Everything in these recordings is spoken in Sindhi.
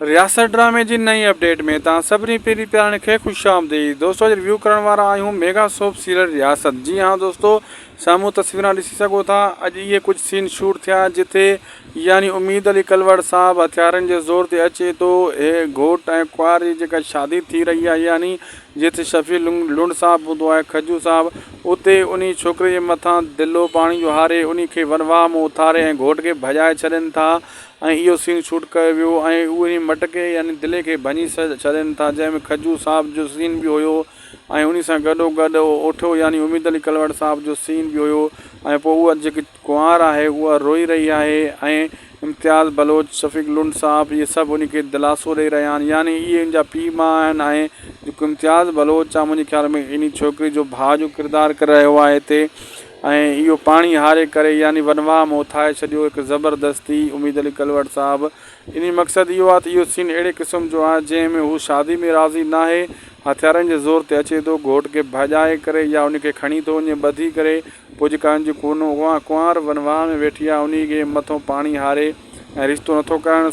رياست ڊرامي جي نئين اپڊيٽ ۾ توهان سڀني پيري پيارڻ کي خوش آمديد دوستو اڄ ريويو ڪرڻ وارا آهيون ميگا سوپ سيريل رياست جي ها دوستو سامهون تصويران ڏسي سگهو ٿا اڄ اهي ڪجهه سين شوٽ ٿيا جتي يعني اميد علي ڪلوڙ صاحب هٿيارن جي زور تي اچي ٿو هي گهوٽ ۽ ڪنوار جي جيڪا شادي ٿي رهي آهي يعني جتي شفيع لنڊ صاحب هوندو آهي کجو صاحب اتي انهي ڇوڪري جي مٿان دلو پاڻي جو هاري انهي کي ونواهه مون اٿاري ۽ گهوٽ کي ڀڄائي ڇڏين ٿا ۽ اهو سين شوٽ ڪيو ويو ۽ اهي هن مٽڪي يعني دلي کي ڀڃي ڇڏين ٿا جنهن ۾ کجو صاحب جو سين به هيو ۽ انهي سان گڏو گڏ اوٺو يعني اميد علي ڪلواڙ صاحب جو سين به هيو ۽ پوء اها جيڪي ڪنوار آهي اها روئي رهي آهي ۽ امتياز بلوچ شفيق لنڊ صاحب اهي سڀ انهي کي دلاسو ڏئي رهيا آهن يعني اهي ان جا پيء ماء آهن ۽ جيڪو امتياز بلوچ آهي منهنجي خيال ۾ انهي ڇوڪري جو ڀاء جو ڪردار ڪري رهيو آهي هتي ۽ اهو پاڻي هاري ڪري يعني ونواهه ۾ اٿائي ڇڏيو هڪ زبردستي اميد علي ڪلوڙ صاحب انهي مقصد اهو آهي ته اهو سين اهڙي قسم جو آهي جنهن ۾ هو شادي ۾ راضي ناهي هٿيارن جي زور تي اچي ٿو گهوٽ کي ڀڄائي ڪري يا انهي کي کڻي ٿو وڃي ٻڌي ڪري پوء جيڪا ان جي ڪنوار ونواهه ۾ ويٺي آهي انهي کي مٿو پاڻي هاري ۽ رشتو نٿو ڪرڻ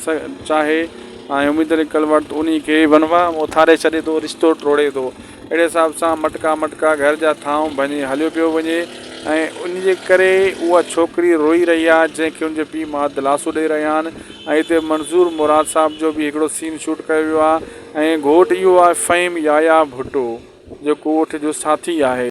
چاهي ۽ اميد لڪل ورت انهي کي ونواء ۾ اٿاري ڇڏي ٿو رشتو ٽوڙي ٿو اهڙي حساب سان مٽڪا مٽڪا گهر جا ٿانو ڀڃي هليو پيو وڃي ۽ ان جي ڪري اها ڇوڪري روئي رهي آهي جنهن کي ان جي پيء ماء دلاسو ڏئي رهيا آهن ۽ هتي منظور مراد صاحب جو به هڪڙو سين شوٽ ڪيو ويو آهي ۽ گهوٽ اهو آهي فهيم يايا ڀٽو جيڪو اٺ جو ساٿي آهي.